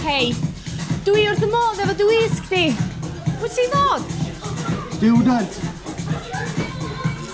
Hei. Dw i wrth fy modd efo dy wisg di. Wyt ti'n dod? Stiwdant!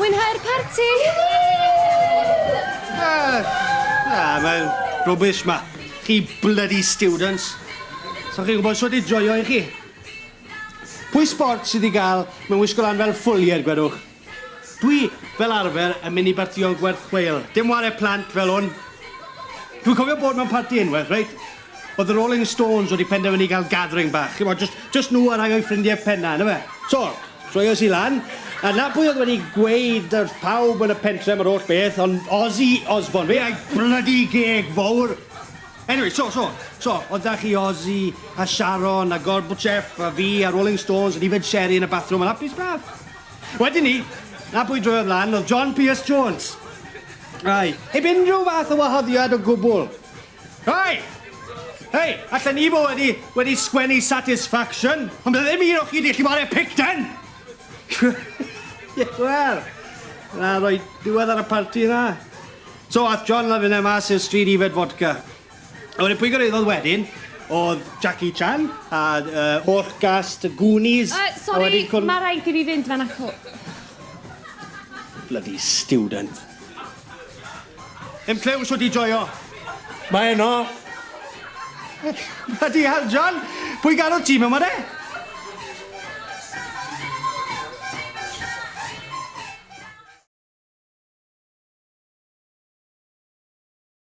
Mwynhau'r parti! Na, mae'n rubbish ma. Chi bloody students. Sa chi'n gwybod sut i joio i chi. Pwy sbort sydd i gael mewn wisgo lan fel ffwliaid, gwedwch? Dwi, fel arfer, yn mynd i bartïon gwerth chweil. Dim ware plant fel hwn. Dwi'n cofio bod mewn parti unwaith, reit? O'dd y Rolling Stones wedi penderfynu cael gathering bach, ch'mod, jyst jyst nhw a rhai o'u ffrindie penna, on' yfe? So, troies i lan, a 'na pwy o'dd wedi gweud wrth pawb yn y pentre am yr holl beth, ond Ozzy Osbourne, fe a'i blydi geg fowr! Anyway, so, so, so, o'dd 'da chi Ozzy, a Sharon, a Gorbachev, a fi, a Rolling Stones, yn yfed sherry yn y bathrwm yn hapus braf. Wedyn 'ny, 'na pwy droiodd lan, o'dd John Pierce Jones. Aye, 'eb unrhyw fath o wahoddiad o gwbwl. Hei! Hei! Allen i fo wedi, wedi sgwennu satisfaction, ond bydd ddim un o chi di allu wario picten! Wel, na roi diwedd ar y parti na. So, ath John la finne mas i'r stryd i fed fodca. A wedyn pwy gyrraeddodd wedyn oedd Jackie Chan a uh, holl gast y Goonies. Uh, sorry, cwn... mae rhaid i fi fynd fan acw. Bloody student. Yn clyw'n siwt i joio. Mae yno. Mae di hal, John. Pwy garodd ti mewn ma de?